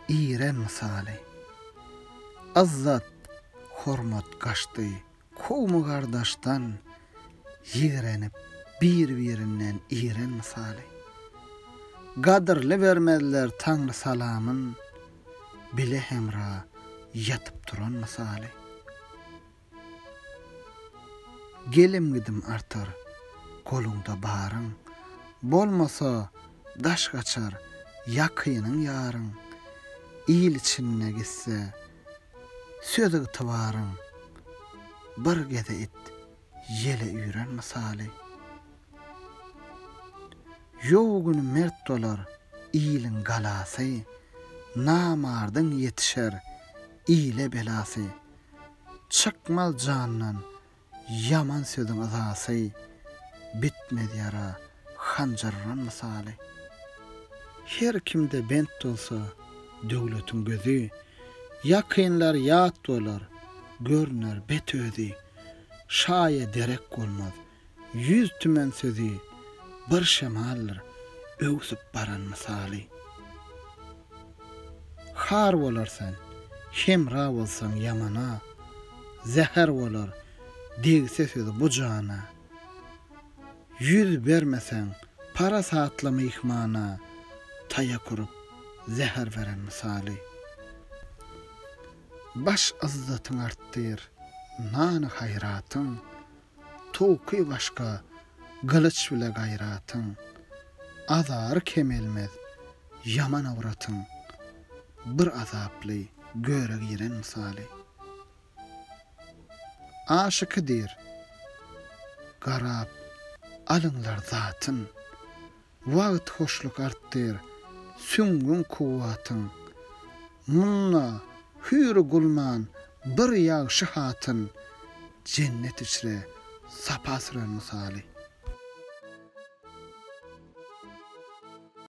Iren mysaly. Yzzat, hormat gaçdy kowmy-gardaşdan, Ýigrenip bir-birinden iren mysaly. Gadyrly bermezler Taňry salamyn, Bile-hemra ýatyp-turan mysaly. Gelim-gidim artar, goluňda baryň. Bolmasa, daş gaçar, ýakynyň, ýaryň. Il içinde gitse, söz-ygtybaryň. Bir gez-ä it, ýele üýren mysaly. Ýow güni mert bolar, iliň galasy. Namardyň ýetişer, ile belasy. Çykmaz jandan ýaman sözüň yzasy, Bitmez ýara hanjar uran mysaly. Her kimde bent bolsa döwletiň gözi, Ýakynlar ýat bolar, görüner bet özi. Şaýa derek bolmaz Ýüz tümen sözi bir şemaldyr öwsüp baran mysaly. Har bolar sen, hemra bolsaň ýamana, zäher bolar degse sözi bu jana. Ýüz bermeseň parasatly myhmana, taýak urup zäher beren mysaly. Baş yzzatyň artdyr, nany-haýratyň, Towky başga, gylyç bile gaýratyň, Azary kemelmez, ýaman awratyň. Bir azaply göre giren mysaly. Aşyky diýr, Garap alyňlar zatyn. Wagt hoşluk artdyr, süňňüň kuwwatyn. Munda hüýri gulman bir ýagşy hatyn, jennet içre sapa süren mysaly.